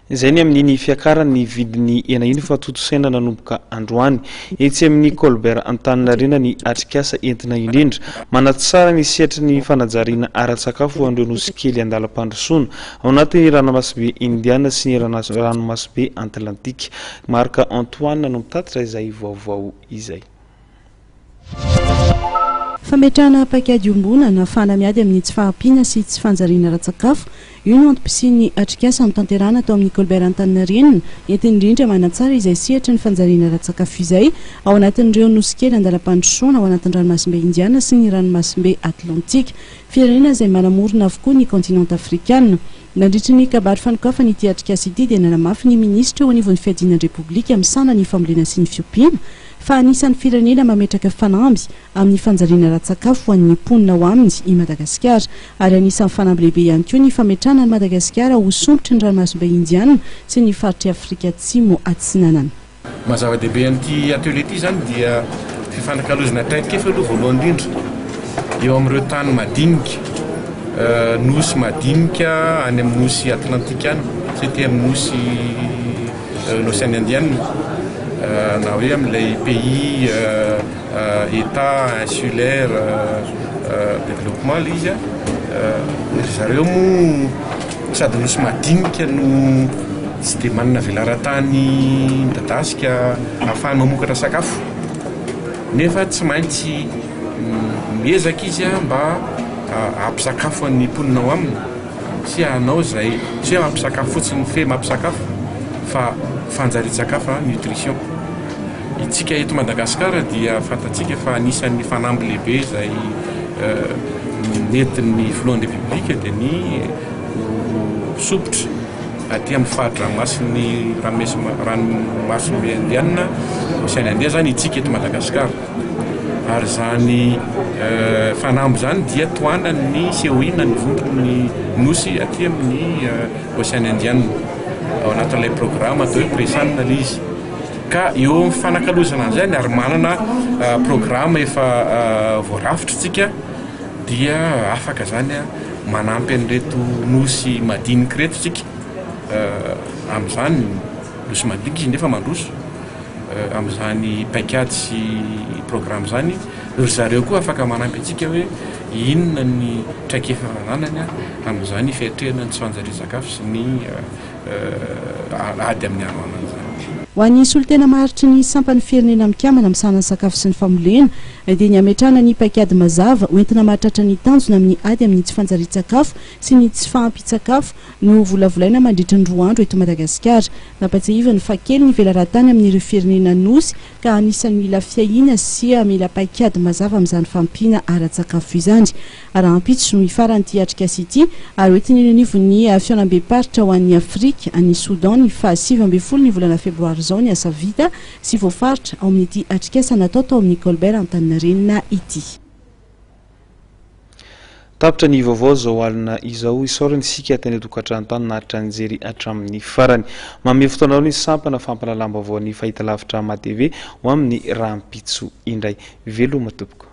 Izay ny amin'iny fiakaran'ny vidin'ny hena iny fa tontosaina nanomboka androany. Etsy amin'ny Colbert Antaninarenina ny atrikasa entina indrindra. Manatsara ny sehatry ny fanajariana ara-tsakafo ho an'ireo nosy kely an-dalam-pandrosoana, ao anatin'ny Ranamasibe Indiana sy ny Ranomasobe Atlantika. Marc Antoine no mitatitra izay vaovao izay. Fametrahana paikady iombonana, fahana-miady amin'ny tsy fahampiana sy tsy fanjariana ara-tsakafo, io no antom-pisian'ny atrikasa notanterahana tao amin'ny Colbert Antaninarenina, entina indrindra manatsara izay sehatry ny fanjariana ara-tsakafo izay ao anatin'ireo nosy kely an-dalam-pandrosoana ao anatin'ny Ranomasimbe Indiana sy ny Ranomasimbe Atlantika, firenena izay manamorona avokoa ny kaontinanta afrikana. Nandritry ny kabary fanokafana ity atrikasa ity dia nanamafy ny minisitra eo anivon'ny Fiadiana ny Repoblika misahana ny Fambolena sy ny Fiompiana, fa anisan'ny firenena mametraka fanamby amin'ny fanjariana ara-tsakafo ho an'ny mponina ao aminy i Madagasikara, ary anisan'ny fanamby lehibe ihany koa ny fametrahana an'i Madagasikara ho sompitry ny Ranomasimbe Indiana sy ny faritr'i Afrika Atsimo-Atsinanana. Ny maha-zava-dehibe an'ity atelier ity izany dia fifanakalozana traikefa aloha voalohany indrindra eo amin'ireo tany madinika, nosy madinika any amin'ny nosy Atlantika any, tsy aty amin'ny nosy. L'Océan Indien na hoe amin'ilay pays, Etat, insulaire développement ilay izy an, ry zareo moa sady nosy madinika no tsy dia manana velaran-tany midadasika ahafahany mamokatra sakafo nefa tsy maintsy miezaka izy an mba hampisakafo ny mponina ao aminy. Tsy hanao izay tsy hoe mampisakafo fotsiny fe mampisakafo fa fanjarian-tsakafo, nutrition. Itsika eto Madagasikara dia fantatsika fa anisan'ny fanamby lehibe izay nentin'ny Filohan'ny Repoblika dia ny sompitra aty amin'ny fari-dranomasin'ny ranomasimbe Indianina, Ocean Indien, izany itsika eto Madagasikara. Ary izany fanamby izany dia tohanan'ny Seoina nivonto ny nosy aty amin'ny Ocean Indiana ao anatin'ilay programa atao hoe Presan ilay izy. Ka eo amin'ny fifanakalozana an'izany ary manana programa efa voarafitra isika dia afaka izany manampy an'ireto nosy madinika ireto isika amin'izany, nosy madinika izy nefa mandroso. amin'izany paikady sy programa izany, ry zareo koa afaka manampy antsika hoe inona ny traikefa ananany amin'izany fiatrehana ny tsy fanjarian-tsakafo sy ny ady amin'ny haroanana izany. Ho an'ny solontena maharitry ny sampan'ny Firenena Mikambana misahana ny sakafo sy ny fambolena dia ny hametrahana ny paikady mazava hoentina mahatratra ny tanjona amin'ny ady amin'ny tsy fanjarian-tsakafo sy ny tsy fahampian-tsakafo Novolavolaina mandritra ny roa andro eto Madagasikara. Nampatsiahiviny fa kely ny velarantany amin'ireo firenena Nosy ka anisan'ny mila fiahiana sy mila paikady mazava amin'izany fahampiana ara-tsakafo izany. Rahampitso no hifaran'ity atrikasa ity ary hoentiny eny anivon'ny Fihaonambem-paritra ho an'i Afrika any Soudan ny faha sivy ambin'ny folo ny volana febroary izao ny asa vita sy voafaritra ao amin'ity atrikasa natao tao amin'ny Colbert Antaninarenina ity. Tapitra ny vaovao izao alina izao. Isaorana isika teny an-tokantrano-tany naharitra nijery hatramin'ny farany. Manome fotoana ny sampana fampahalalam-baovao ny Fahitalavitra AmaTv ho amin'ny rahampitso indray. Veloma tompoko.